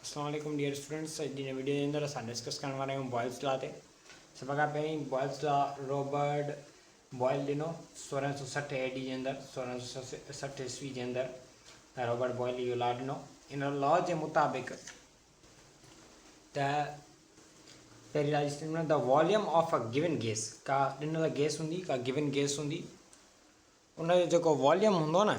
السلام عليڪم dear students اڄ جي ويڊيو جي اندر اسان ڊسڪس ڪرڻ وارا آهيون بوائلز لا تي سڀ کان پهرين بوائلز لا روبرٽ بوائل ڏنو سورهن سو سٺ اي ڊي جي اندر سورهن سو سٺ عيسوي جي اندر روبرٽ بوائل اهو لا ڏنو ان لا جي مطابق ته پهرين لا جي ته volume of a given gas کا ڏنل گيس هوندي کا گون گيس هوندي ان جو جيڪو واليوم هوندو نه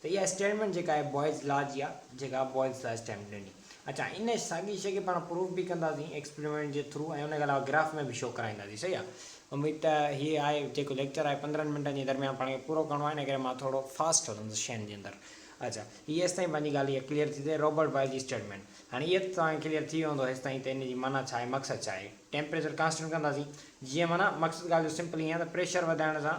ته اها اسٽيٽمينٽ جيڪا آهي بوائز لا جي آهي جيڪا بوائز لا اسٽيٽمينٽ ڏني. اڇا ان ساڳي شيء کي پاڻ پروف به ڪنداسين ايڪسپريمينٽ جي ٿرو ۽ ان کان علاوه گراف ۾ به شو ڪرائينداسين صحيح آهي. اميد ته هي آهي جيڪو ليڪچر آهي پندرهن منٽن جي درميان پاڻ کي پورو ڪرڻو آهي ان ڪري مان ٿورو فاسٽ هلندس شين جي اندر. اڇا هي هيستائين پنهنجي ڳالهه اها ڪليئر ٿي ته روبرٽ بوائز جي اسٽيٽمينٽ هاڻي اها ته توهان کي ڪليئر ٿي ويو هوندو هيستائين ته ان جي معنيٰ ڇا آهي مقصد ڇا آهي ٽيمپريچر ڪانسٽنٽ ڪنداسين جيئن معنيٰ مقصد ڳالهه جو سمپل ائين آهي ته پريشر وڌائڻ سان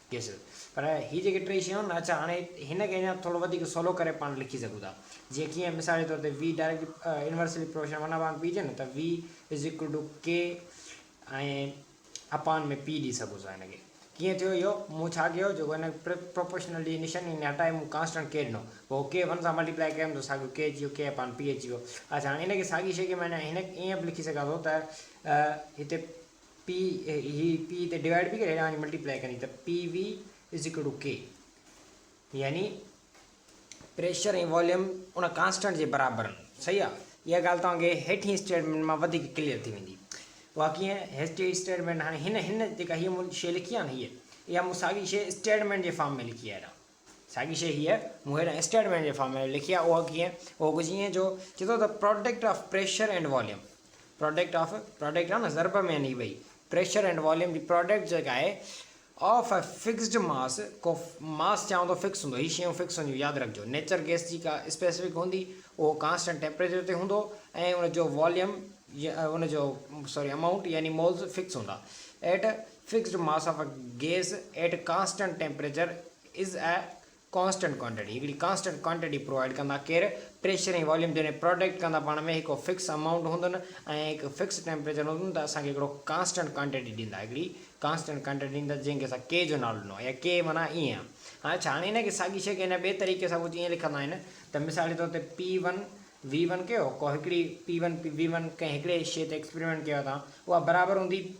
يس پر هي جيڪي ٽي شيون آهن اڇا هاڻي هن کي اڃا ٿورو وڌيڪ سولو ڪري پاڻ لکي سگهون ٿا جيئن ڪيئن مثال جي طور تي V direct inversely proportion one upon P جي نه ته V is equal to K ۽ اپان ۾ P ڏي سگهون ٿا هن کي ڪيئن ٿيو اهو مون ڇا ڪيو جيڪو هن پروپورشنل جي نشن ان هٽائي مون ڪانسٽنٽ K ڏنو پوء K ون سان ملٽيپلائي ڪيم ته ساڳيو K اچي ويو K اپان P اچي ويو اڇا هاڻي ان کي ساڳي شيء کي مان هن ائين به لکي سگهان ٿو ته هتي P هي P هتي ڊوائيڊ به ڪري هيڏانهن وڃي ملٽي پلائي ڪندي ته PV is equal to K يعني پريشر ۽ واليوم ان ڪانسٽنٽ جي برابر آهن صحيح آهي اها ڳالهه توهان کي هيٺين اسٽيٽمنٽ مان وڌيڪ ڪليئر ٿي ويندي اها ڪيئن هيٺين اسٽيٽمنٽ هاڻي هن هن جيڪا هي مون شي لکي آهي نه هي اها مون ساڳي شي اسٽيٽمنٽ جي فارم ۾ لکي آهي ساڳي شيء هيء مون هيڏانهن اسٽيٽ مينٽ جي فارم ۾ لکي آهي. اهو ڪيئن؟ اهو ڪجهه ائين جو چئي ٿو ته product of pressure and volume, product of, product of نه ضرب ۾ آهن هي ٻئي، پريشر اينڊ واليوم جي پراڊڪٽ جيڪا آهي آف اي فڪسڊ ماس، ڪو ماس چئون ته فڪس هوندو، هي شيون فڪس هونديون ياد رکجو، نيچر گئس جي ڪا اسپيسفڪ هوندي، اهو ڪانسٽنٽ ٽيمپريچر تي هوندو ۽ ان جو واليوم ان جو سوري امائونٽ يعني مولز فڪس هوندا. At Fixed mass of a gas at constant temperature is a constant quantity هڪڙي ڪانسٽنٽ ڪوانٽيٽي پرووائيڊ ڪندا ڪير پريشر ۽ واليوم جڏهن پراڊڪٽ ڪندا پاڻ ۾ هڪ فڪس امائونٽ هوندن ۽ هڪ فڪس ٽيمپريچر هوندن ته اسان کي هڪڙو ڪانسٽنٽ ڪوانٽيٽي ڏيندا هڪڙي ڪانسٽنٽ ڪوانٽيٽي ڏيندا جنهن کي اسان ڪي جو نالو ڏنو يا ڪي معنيٰ ائين آهي هاڻي ڇا هاڻي هن کي ساڳي شيء کي هن ٻئي طريقي سان ڪجهه ائين لکندا آهن ته مثال جي طور تي پي ون وي ون ڪيو ڪو هڪڙي P one P V one ڪنهن هڪڙي شيء تي ايڪسپريمينٽ ڪيو تان اها برابر هوندي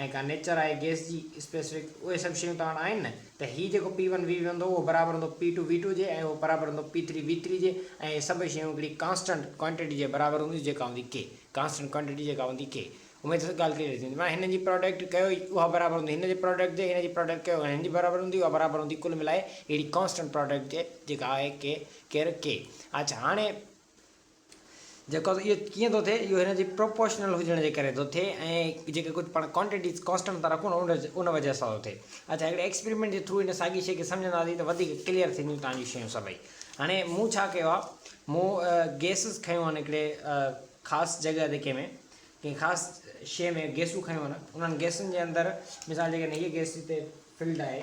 ۽ ڪا نيچر آهي گيس جي اسپيسفڪ اهي سڀ شيون توهان وٽ آهن نه ته هي جيڪو پي ون وي ون هوندو اهو برابر هوندو پي ٽو وي ٽو جي ۽ اهو برابر هوندو پي ٿري وي ٿري جي ۽ اهي سڀئي شيون هڪڙي ڪانسٽنٽ ڪوانٽٽي جي برابر هونديون جيڪا هوندي ڪي ڪانسٽنٽ ڪوانٽٽي جيڪا هوندي ڪي اميد اٿس ڳالهه ڪليئر ٿي هوندي معنيٰ هنن جي پراڊڪٽ ڪيو اها برابر هوندي هن جي پراڊڪٽ جي هن جي پراڊڪٽ ڪيو هن جي برابر هوندي اها برابر هوندي ڪل ملائي هڪڙي ڪانسٽنٽ پراڊڪٽ جي جيڪا آهي ڪي ڪير ڪي اڇا هاڻي جيڪو اهو ڪيئن ٿو ٿئي اهو هن جي پروپورشنل هجڻ جي ڪري ٿو ٿئي ۽ جيڪي ڪجهه پاڻ ڪوانٽيٽيز ڪانسٽنٽ ٿا رکون ان ان وجه سان ٿو ٿئي اچا هڪڙي ايڪسپريمينٽ جي ٿرو ان ساڳي شيء کي سمجهنداسين ته وڌيڪ ڪليئر ٿينديون تان جون شيون سڀئي هاڻي مون ڇا ڪيو آهي مون گيسز کيون آهن هڪڙي خاص جڳهه تي ڪنهن ۾ ڪنهن خاص شيء ۾ گيسون کيون آهن انهن گيسن جي اندر مثال جيڪڏهن هيء گيس هتي فلڊ آهي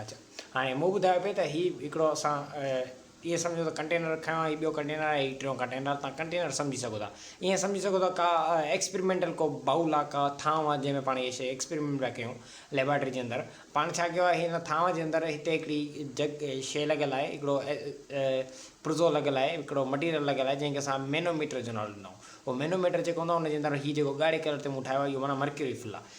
اچا هاڻي مون ٻڌايو پئي ته هي هڪڙو اسان ائين سمجهو ته ڪنٽينر کنيو آهي هي ٻيو ڪنٽينر آهي هي ٽيون ڪنٽينر تان ڪنٽينر سمجهي سگهو ٿا ائين سمجهي سگهو ٿا ڪا ايڪسپريمينٽل ڪو باؤل آهي ڪا ٿانو آهي جنهن ۾ پاڻ هي شي ايڪسپريمينٽ پيا ڪيون ليبارٽري جي اندر پاڻ ڇا ڪيو آهي هن ٿانو جي اندر هتي هڪڙي جگ شي لڳل آهي هڪڙو پرزو لڳل آهي هڪڙو مٽيريل لڳل آهي جنهن کي اسان مينو ميٽر جو نالو ڏنائون اهو مينو ميٽر جيڪو هوندو آهي ان جي اندر هي جيڪو ڳاڙهي ڪلر تي مون ٺاهيو آهي اهو معنيٰ مرڪيوري فل آهي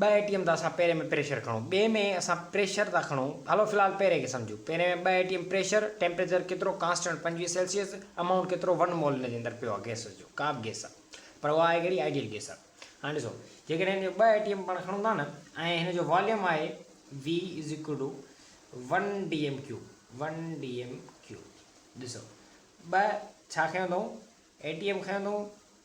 ٻه اي ٽي ايم ته اسان پهرين ۾ پريشر کڻو ٻئي ۾ اسان پريشر ٿا کڻو هلو في الحال پهرين کي سمجهو پهرين ۾ ٻه A T M pressure temperature ڪيترو ڪانسٽنٽ پنجويهه سيلسيس امائونٽ ڪيترو ون مول ان جي اندر پيو آهي گئس جو ڪا به گئس آهي پر اها آهي ڪهڙي آئيڊيل گئس آهي هاڻي ڏسو جيڪڏهن هن جو ٻه اي ٽي ايم پاڻ کڻون ٿا نه ۽ هن جو واليوم آهي V is equal to one D M cube one D M cube ڏسو ٻه ڇا کيو اٿئون اي ٽي ايم کيو اٿئون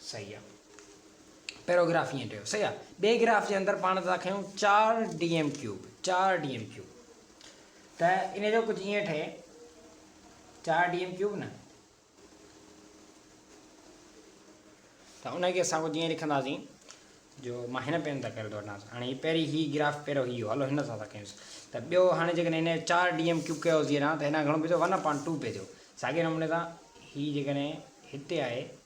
صحيح آ. پيروگراف ائين ٺهيو. صحيح آ. ٻئي گراف جي اندر پاڻ ٿا کنيون چار ڊي ايم ڪيوب، چار ڊي ايم ڪيوب ته ان جو ڪجهه ائين ٺهي چار ڊي ايم ڪيوب نه ته ان کي اسان ڪجهه ائين لکنداسين جو مان هن پين تان ڪري ٿو وٺان هاڻي هي پهرين هي گراف پهريو هي هو هلو هن سان ٿا ڪيونس ته ٻيو هاڻي جيڪڏهن هن جو چار ڊي ايم ڪيوب ڪيو هجي ها ته هن کان گهڻو پئي ٿو ون اپان ٽو پئي ٿو ساڳي نموني سان هي جيڪڏهن هتي آهي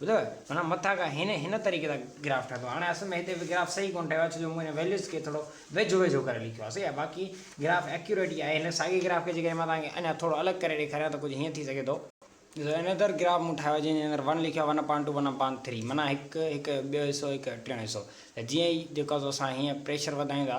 ٻڌو معنيٰ مٿان کان هن هن طريقي سان گراف ٺاهيو اٿو هاڻي اصل ۾ هتي به گراف صحيح ڪونه ٺاهيو آهي ڇو جو مون هن ويليوز کي ٿورو ويجهو ويجهو ڪري لکيو آهي صحيح آهي باقي گراف ايڪيوريٽ ئي آهي هن ساڳي گراف کي جيڪڏهن مان توهان کي اڃا ٿورو الڳ ڪري ڏيکاريان ته ڪجهه هيئن ٿي سگهي ٿو. ڏسو هن اندر گراف مون ٺاهيو آهي جنهن جي اندر ون لکيو آهي one upon two one upon three معنيٰ هڪ هڪ ٻيو حصو هڪ ٽيون حصو ته جيئن ئي جيڪو سو اسان هيئن پريشر وڌايون ٿا